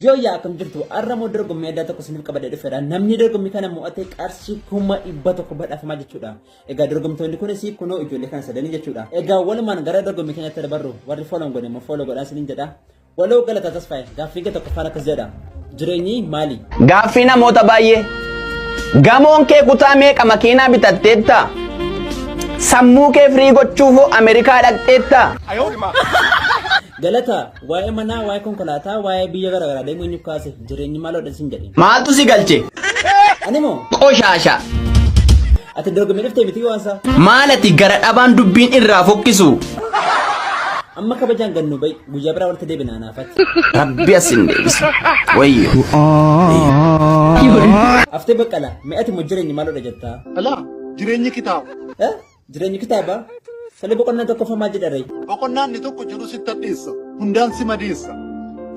Yoo yaa akkam jirtu har'a moo dorgommii addaa tokko isiniif qabadee dhufeera. Namni dorgommii kana mo'ate qarshii kuma dhibba tokko badhaafamaa jechuudha. Egaa dorgomtoonni kunis kunoo ijoollee kana sadanii jechuudha. Egaa walumaan gara dorgommii keenyatti dabarru warri fooloon godhe immoo fooloo godhaa isiniin jedha. Waloo galata tasfaa'e gaaffii kee tokkoffaan akkas jedha jireenyi maali? Gaaffii namoota baay'ee. Gamoon kee kutaa meeqa makiinaa bitatteetta? Sammuu kee firii gochuuf Ameerikaa dhaqxeetta? Galata waa'ee manaa waa'ee konkolaataa waa'ee biyya garaagaraa deemuu eenyu kaase jireenyi maaloo dha sin jedhe. Maaltu si galche? Ani moo Qoshaasha. ati dorgommii dhuftee miti waan isaa Maalati gara dhabaan dubbiin irraa fokkisu? amma kabajaan gannuu ba'i. Guyyaa biraa walitti deebina anaafatti. Rabbi as hin deebisa. Wayyo. Haftee baqqala mi'ati immoo jireenyi maalodha jettaa? Alaa jireenyi kitaaba. Eh? Jireenyi kitaaba? Sale boqonnaan tokkoffaa maal jedha ree? Boqonnaan inni tokko jiru sitti addeessa. Hundaan si madeessa.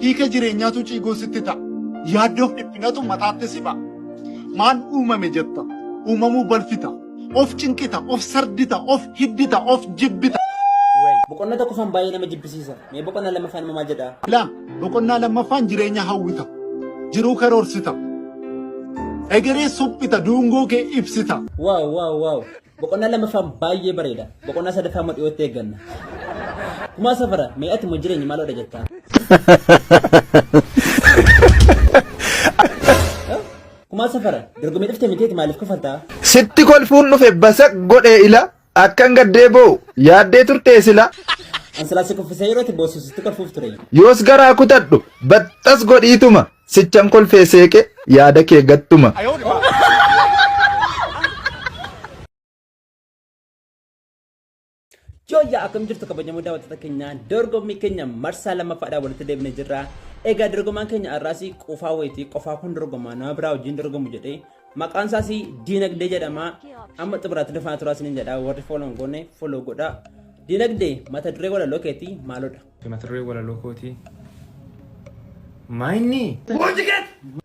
Hiika jireenyaatu ciigoo sitti ta'a. Yaaddoof dhiphinatu mataatti si ba'a. Maal uumame jetta? Uumamuu balfita. Of cinqita, of sardita, of hiddita, of jibbita. Boqonna tokkoffaan baay'ee nama jibbisiisa. Mee boqonna lammaffaan immoo maal jedhaa? Laa boqonnaa lammaffaan jireenya hawwita. Jiruu karoorsita. Egeree suphita, duungoo kee ibsita. Waaw waaw waaw. Boqonnaa lammaffaan baay'ee bareeda. Boqonnaa sadaffaa immoo dhiyootti eegganna. Kumaa safara mee ati immoo jireenya maaloodha jettaa? Kumaa safara dorgomee dhufte miteeti maaliif kufartaa? Sitti kolfuun dhufe basaq godhee ila akkan gaddee boo'u yaaddee turtee sila. Ansilaa si kuffisee yeroo itti boossu sitti kolfuuf ture. Yoos garaa kutadhu baxxas godhiituma sichan kolfee seeqe yaada kee gattuma. Jooyyaa akkam jirtu kabajamoo daawwattoota keenyaa dorgommii keenya marsaa lammaffaadhaan walitti deebinee jirra. Egaa dorgomaan keenya har'aas qofaa wayitii qofaa kun dorgomaa nama biraa wajjin dorgomu jedhee maqaan isaas diinagdee jedhama. Amma xumuraatti dhufaa turaa isiniin jedha warri fooloon goone fooloo godha. Diinagdee mata duree walaloo keetii maalodha? Mata duree walaloo kootii. Maayinni! Boojii keessa!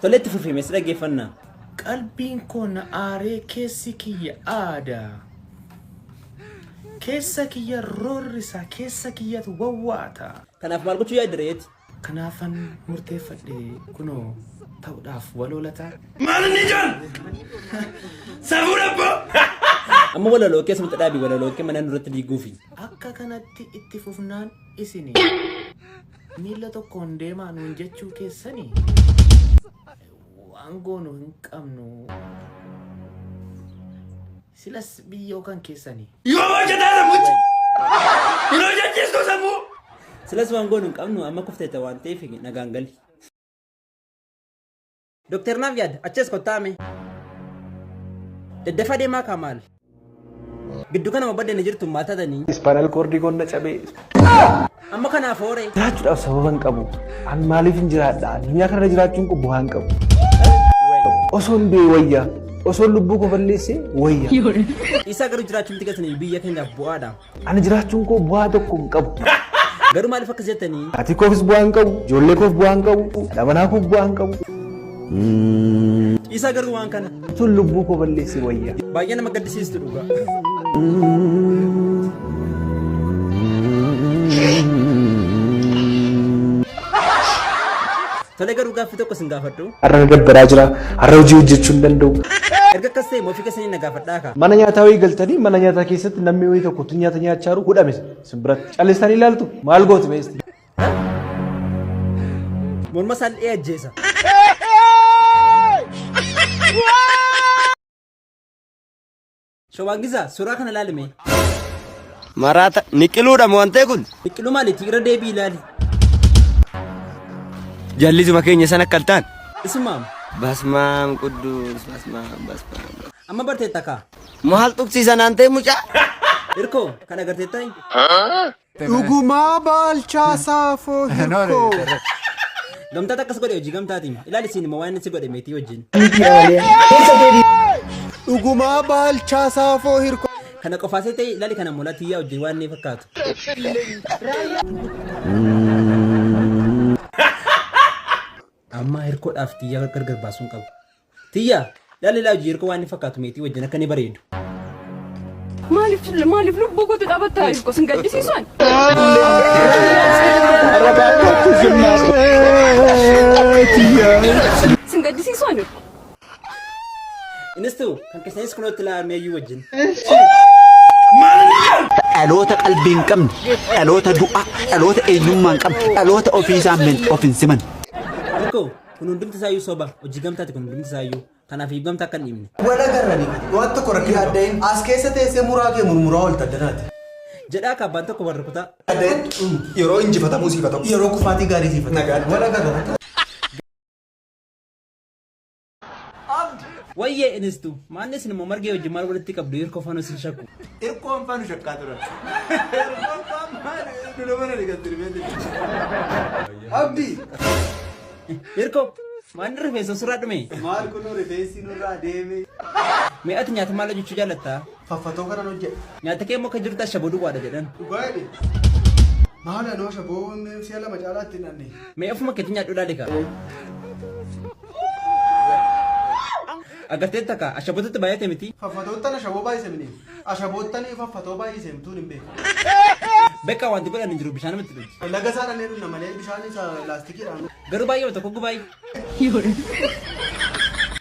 Tole itti fufi mee si dhaggeeffannaa. Qalbiin koo na aaree keessi kiyya aada. Keessa kiyya roorrisa, keessa kiyyatu wawwaata. Kanaaf maal gochuu yaadde reeti? Kanaafan murteeffadhe kunoo ta'uudhaaf waloo lataa. Maal inni ijaan? Safuu dhabboo! Amma walaloo kee asumatti dhaabi walaloo kee mana nurratti diiguufi. Akka kanatti itti fufnaan isinii. Miila tokkoon deemaa nuun jechuu keessani waan goonu hin qabnu. Silas biyyoo kan keessani. Yoo hojjetaa sammuchi. Hin hojjechiistu sammuu. Silas waan goonu hin qabnu amma kufteetta waan ta'eef nagaan gali. Doktar naaf yaada achees kottaa mee. Daddafa deemaa kaa maal? Giddu kana ma badda ni jirtu maal tatanii? Ispaanal koordii konna cabee. Amma kanaaf hooree. Jiraachuudhaaf sababa hin qabu. An maaliif hin jiraadha? Addunyaa kanarra jiraachuun kun bu'aa hin qabu. Osoo hin du'e wayya. Osoo lubbuu koo balleessee wayya. Isaa garuu jiraachuun tika biyya keenyaaf bu'aadha. Ani jiraachuun koo bu'aa tokko hin qabu. Garuu maaliif akkas jettanii? Maatii koofis bu'aa hin qabu, ijoollee koof bu'aa hin qabu, haadha manaa koof bu'aa hin qabu. Dhiisaa garuu waan kana. Sun lubbuu koo balleessee wayya. Baay'ee nama gaddisiistu dhugaa. Tole garuu gaaffii tokko sin gaafadhu. Har'a na dabbaraa jira, har'a hojii hojjechuu hin danda'u. Erga akkas ta'e moofi keessanii na gaafadha. Mana nyaataa wayii galtanii mana nyaataa keessatti namni wayii tokko utuu nyaata nyaachaa jiru hudhame isin biratti. Calistanii ilaaltu maal gooti beesti? Morma isaan dhi'ee ajjeesa. Shawaan Gizaa suuraa kana ilaalime. Maraata niqiluudha mo wantee kun. Niqilu maaliti irra deebii ilaali. Jallisuma keenya san akka altaan. Isumaam. Basmaam quddus basmaam basmaam. Amma barteetta kaa. Maal tuqsiisa naantee mucaa. Irkoo kan agarteetta hin. Dhugumaa baalchaa saafoo hirkoo. Gamtaat akkas godhe hojii gamtaatiin. Ilaali siin immoo waan inni si godhe meetii wajjin. Dhugumaa baalchaa saafoo hirkoo. Kana qofaa seetee ilaali kana molaa tiyyaa wajjin waan inni fakkaatu. Amma hirkoodhaaf tiyyaa gargar baasuun qabu. Tiyyaa ilaali ilaa hojii hirkoo waan inni fakkaatu meetii wajjin akka inni bareedu. Maaliif maaliif lubbuu kootu dhaabbattaa jirtu sin gaddisiisan? Sin gaddisiisan jirtu. Innis ta'u kan keessanis kunoo itti laa'amee iyyuu wajjin. dhaloota qalbii hin qabne dhaloota du'aa dhaloota eenyummaa hin qabne dhaloota ofii isaa min of hin siman Tokko kun hundumti isaa iyyuu soba hojii gamtaati kun hundumti isaa iyyuu kanaaf iyyuu gamta akka hin dhiibne. Wala garrani waan tokko rakkina adda'e as keessa teessee muraa kee murmuraa oolta danaati. Jedhaa akka abbaan tokko warra kutaa. Adda'e yeroo injifatamuu siifatamu yeroo kufaatii gaarii siifatamu. Wala garrani. Abdi. Wayyee inistu maanni isin immoo margee wajjin maal walitti qabdu hirkoo faanoo isin shakku. Irkoon faanu shakkaa turan. Irkoon faan maali? Dula mana dhiqan dirbeetti. Abdi. Hirkoo maanni rifeensa surraa dhume. Maal kunuu rifeensi nurraa deeme. Mee ati nyaata maal hojjechuu jaallatta? faffatoo kanan hojjedha. Nyaata kee immoo akka jirutti ashaboo duwwaadha jedhan. Dhugaa jedhe. Maal anoo ashaboon si'a lama caalaatti hin dhanne. Mee ofuma keetii nyaadhu ilaali kaa. Agartee takka ashabootatti baay'ate miti. Faffatoottan ashaboo baay'ise mini. Ashaboottan faffatoo baay'ise mituun hin beeku. Beekaa wanti godhan hin jiru bishaan mitti dhufu. Laga isaa dhannee dhunna malee bishaan isa laastikiidhaan. Garuu baay'ee tokko gubaay'ee.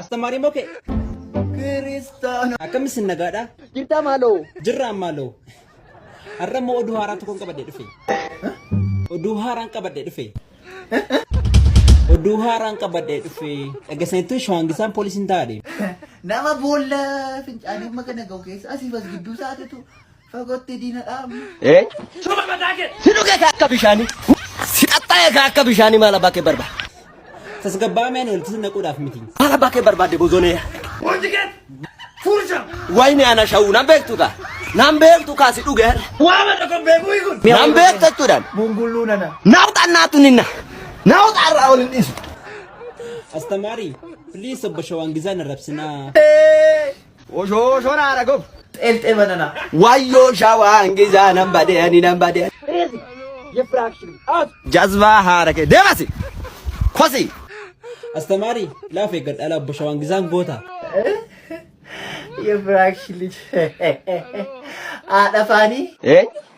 Astamaariin moo kee? Kiristaana. Akkam isin nagaadha? Jirtaa maaloo? Jirraa maaloo. Har'a immoo oduu haaraa tokkoon qabadhee dhufe. Oduu haaraan qabadhee dhufe. Oduu haaraan qabadhee dhufe. Dhageessaniittuu shawangisaan poolisiin taa'adhe. Nama boolla fincaanii amma kana gahu keessa asiif as gidduu isaatitu Fagootti diina dhaabna. Eh? Si dhugata akka bishaanii. Si qaxxaaya ka akka bishaanii maal abbaa kee barbaada? Tasgabbaa'ameen walitti naquudhaaf miti. Maal abbaa kee barbaadde bozonee? Wayni ana shawuu nan beektu kaa. Nan beektu kaa si dhuge har'a. Nan beektu jechuudhaan. Bungulluu nana. Naawxaan naatu ninna. Naawxaa irraa ol hin dhiisu. Astamaarii, please obbo Shawaan Gizaan arrabsinaa. Oshoo shoraa dha gob. Xeelxee banana. Wayyoo shawaa hangisaa nan badee ani nan badee. Crazy. Yefraction. Out. Jazbaa haara kee deemasi. Kosi. Astamaari laaf eeggadha ala obbo Shawaan Gisaan goota. Yefraction. Haadha faanii. Eenyu?